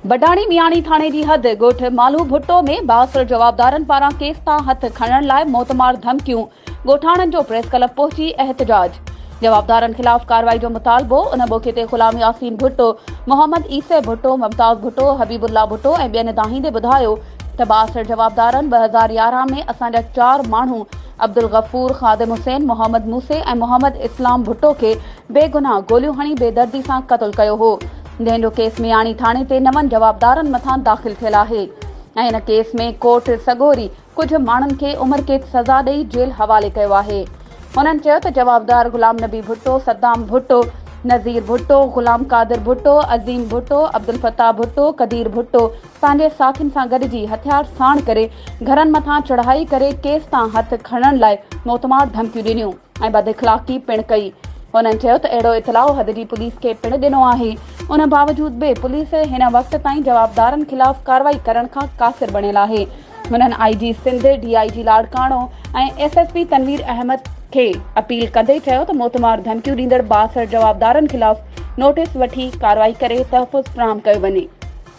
بڊاڻي مياڻي ٿاڻي جي حد ڳوٺ مالهو ڀٽو ۾ بااثر جوابدارن پاران ڪيس تان هٿ کڻڻ لاء موتمار ڌمڪيون، ڳوٺاڻن جو پريس ڪلب پهچي احتجاج، جوابدارن خلاف ڪارروائي جو مطالبو، ان موقعي تي غلام ياسين ڀٽو، محمد عيسي ڀٽو، ممتاز ڀٽو، حبيب الله ڀٽو ۽ ٻين دانهيندي ٻڌايو ته بااثر جوابدارن ٻه هزار يارهن ۾ اسان جا چار ماڻهو عبدالغفور، خادم حسين، محمد موسي ۽ محمد اسلام ڀٽو کي بيگناهه گوليون هڻي بيدردي سان قتل ڪيو هو جنهن جو ڪيس مياڻي ٿاڻي تي نون جوابدارن مٿان داخل ٿيل آهي ۽ ان ڪيس ۾ ڪورٽ سڳوري ڪجهه ماڻهن کي عمر قيد سزا ڏئي جيل حوالي ڪيو آهي. هنن چيو ته جوابدار غلام نبي ڀٽو، صدام ڀٽو، نظير ڀٽو، غلام قادر ڀٽو، عظيم ڀٽو، عبدالفتاح ڀٽو، قدير ڀٽو، پنهنجي ساٿين سان گڏجي هٿيار ساڻ ڪري گهرن مٿان چڙهائي ڪري ڪيس تان هٿ کڻڻ لاء موتمار ڌمڪيون ڏنيون ۽ بد اخلاقي پڻ ڪئي. هنن چيو ته اهڙو اطلاع حد جي پوليس کي پڻ ڏنو آهي، ان باوجود به پوليس هن وقت تائين جوابدارن خلاف ڪارروائي ڪرڻ کان قاصر بڻيل آهي. هنن I G Sindh, D I G Larkana ۽ S S P Tanveer Ahmed کي اپيل ڪندي چيو ته موتمار ڌمڪيون ڏيندڙ بااثر جوابدارن خلاف نوٽيس وٺي ڪارروائي ڪري تحفظ فراهم ڪيو وڃي.